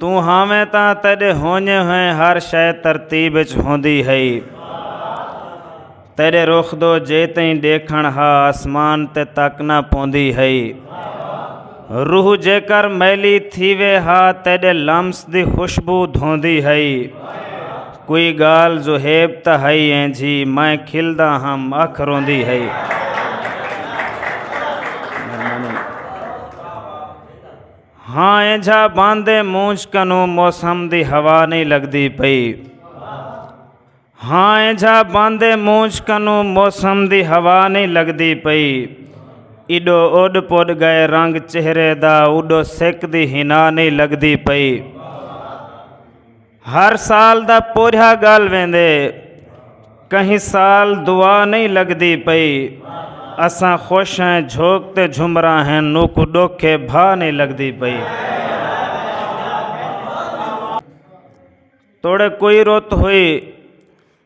توں ہاویں تاں تیڈے ہونجے ہوئیں ہر شے ترتیب اچ ہوندی ہئی تیڈے رخ دو جے تئیں ڈیکھن ہا آسمان تے تک نہ پوندی ہئی روح جے کر میلی تھی وے ہا تیڈے لمس دی خوشبو دھوندی ہئی کوئی گال زہیب تا ہئی ایں جی میں کھلدا ہم اکھ روندی ہئی ہاں اینجھا باندے مونجھ کنوں موسم دی ہوا نہیں لگدی پئی ہاں اینجھا باندے مونجھ کنوں موسم دی ہوا نہیں لگدی پئی ایڈو اوڈ پوڈ گئے رنگ چہرے دا اوڈو سک دی ہنا نہیں لگدی پئی ہر سال دا پورھیا گل ویندے کہیں سال دعا نہیں لگدی پئی اساں خوش ہیں جھوک تے جھمرا ہیں نوکو ڈوکھے بھا نہیں لگدی پئی توڑے کوئی روت ہوئی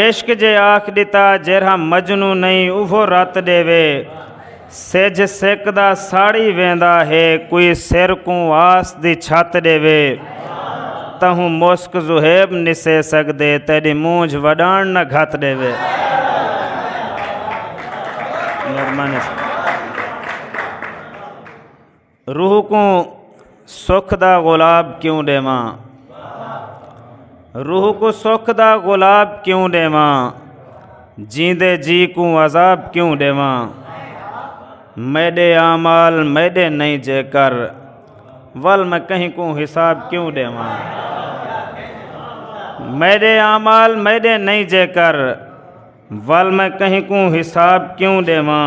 عشق جے آکھ ݙتا جیرھا مجنوں نئیں اوہو رت ݙیوے سجھ سکدا ساڑی ویندا ہے کوئی سر کوں آس دی چھت ݙیوے تہوں مسک زہیب نسے سکدے تیݙی مونجھ وݙاݨ نہ گھت ݙیوے روح کوں سکھ دا گلاب کیوں ڈیواں روح کو سکھ دا گلاب کیوں ڈیواں جیندے جی کوں عذاب کیوں ڈیواں میڈے آمال میڈے نہیں جے کر ول میں کہیں کو حساب کیوں ڈیواں میڈے آمال میڈے نہیں جے کر ول میں کہیں کو حساب کیوں ڈیواں